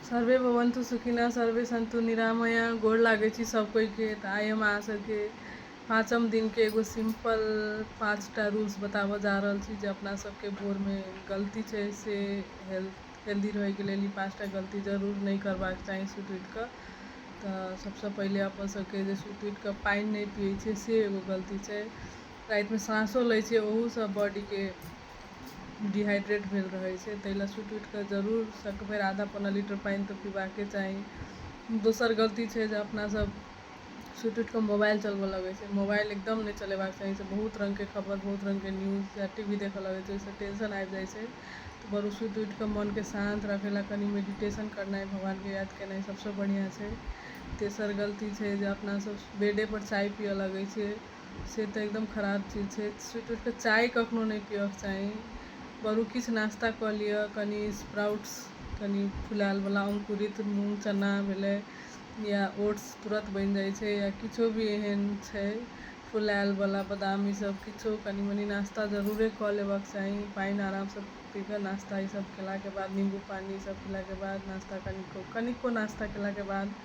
survey भवन्तु सुखिनः सर्वे सन्तु निरामय गोड़ लागै छी सब कोई के तऽ आइ हम अहाँ सबके पाँचम दिन के एगो सिंपल पाँच टा रूल्स बताबऽ जा रहल छी जे अपना सबके भोर में गलती छै से हेल्थ हेल्दी रहै के लेल ई पाँच टा गलती जरूर नहि करबाक चाही सुत उठि कऽ तऽ सबसँ पहिले अपन सबके जे सुत उठि कऽ पानि नहि पियै छै से एगो गलती छै रातिमे साँसो लै छै ओहूसँ बॉडी के डिहाइड्रेट भेल रहै छै ताहि लए सुति उठि कऽ जरूर सकभरि आधा पौने लीटर पानि तऽ पीबाके चाही दोसर गलती छै जे अपना सब सुति उठि कऽ मोबाइल चलबऽ लगै छै मोबाइल एकदम नहि चलेबाक चाही एहिसँ बहुत रंग के खबर बहुत रंग के न्यूज या टी वी देखऽ लगै छै ओहिसँ टेंशन आबि जाइ छै ताहि दुआरे सुति उठि कऽ मन के शान्त राखै लए कनी मेडिटेशन करनाइ भगवान के याद केनाइ सबसँ बढ़िऑं छै तेसर गलती छै जे अपना सब बेडे पर चाय पीयऽ लगै छियै से तऽ एकदम खराब चीज छै सुति उठिके चाय कखनो नहि पिअके चाही बरु किछु नाश्ता कऽ लिअ कनि स्प्राउट्स कनि फुलाएलवला अङ्कुरित मूँग चना भेलै या ओट्स तुरन्त बनि जाइ छै या किछु भी एहन छै फुलाएलवला बादाम ईसब किछु कनि मनि नाश्ता जरूरे कऽ लेबाके चाही पानि आरामसँ पीके नाश्ता ईसब कएलाके बाद नीम्बू पानी ईसब पीलाके बाद नाश्ता कनिको कनिको नाश्ता कएलाके बाद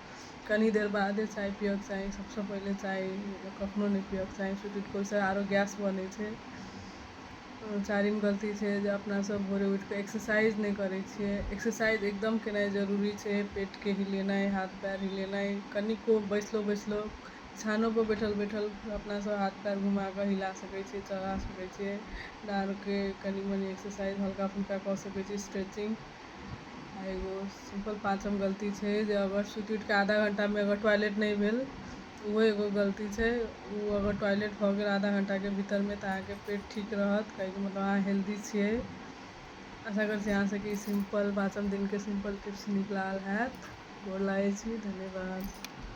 कनी देर बादे चाय पियक चाही सबसँ पहिले चाय कखनो नहि पियक चाही सुति उठिकऽ ओहिसँ आरो गैस बनै छै चारिम गलती छै जे अपनासभ भोरे उठिकऽ एक्सरसाइज नहि करै छियै एक्सरसाइज एकदम केनाइ जरूरी छै पेटके हिलेनाइ हाथ पयर हिलेनाइ कनिको बैसलो बैसलो छानोपर बैठल बैठल अपनासभ हाथ पयर घुमाकऽ हिला सकै छियै चला सकै छियै डाँड़के कनी मनी एक्सरसाइज हल्का फुल्का कऽ सकै छियै स्ट्रेचिंग एगो सिंपल पाँचम गलती छै जे अगर सुति उठिके आधा घंटामे अगर टॉयलेट नहि भेल ओहो एगो गलती छै ओ अगर टॉयलेट भऽ गेल आधा घंटाके भीतरमे तऽ अहाँके पेट ठीक रहत कहैके मतलब अहाँ हेल्दी छियै आशा करै छी अहाँ सबके ई सिंपल पाँचम दिनके सिंपल टिप्स नीक लागल हैत गोर लागै छी धन्यवाद